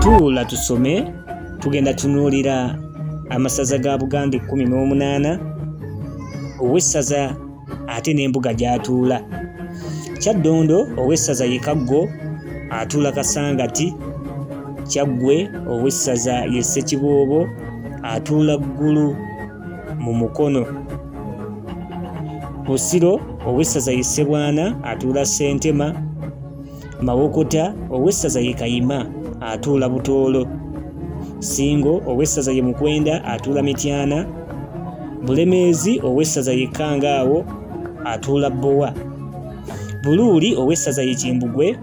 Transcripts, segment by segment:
tuula tusome tugenda tunuulira amasaza ga buganda ekkumi n'omunaana owessaza ate n'embuga gy'atuula kyaddondo owessaza ye kaggo atuula kasangati kyaggwe owessaza ye ssekiboobo atuula ggulu mu mukono busiro owessaza ye ssebwana atuula ssentema mawokota owessaza ye kayima atuula butoolo singo owessaza ye mukwenda atuula mityana bulemeezi owessaza ye kkangaawo atuula bbowa buluuli owessaza ye kimbugwe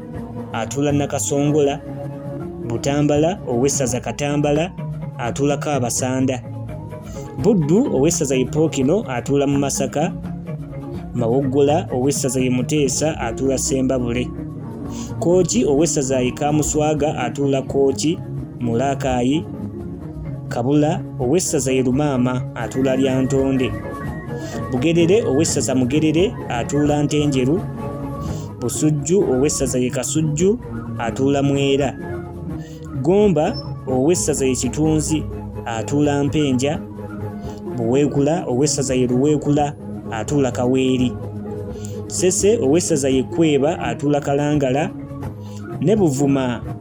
atuula Nakasongola, Butambala ow'essaza Katambala atuula Kaabasanda, Buddu ow'essaza ye Pookino atuula mu Masaka, Mawoggola ow'essaza ye Muteesa atuula Sembabule, Kooki ow'essaza ye Kaamuswaga atuula Kooki mu Laakaayi, Kabula ow'essaza ye Lumaama atuula Lyantonde, Bugerere ow'essaza Mugerere atuula Ntenjeru, Busujju ow'essaza ye Kasujju atuula Mwera. Gomba ow'essaza ye Kitunzi atuula Mpenja. Buweekula ow'essaza ye Luweekula atuula Kaweeri. Ssese ow'essaza ye Kweba atuula Kalangala ne Buvuma.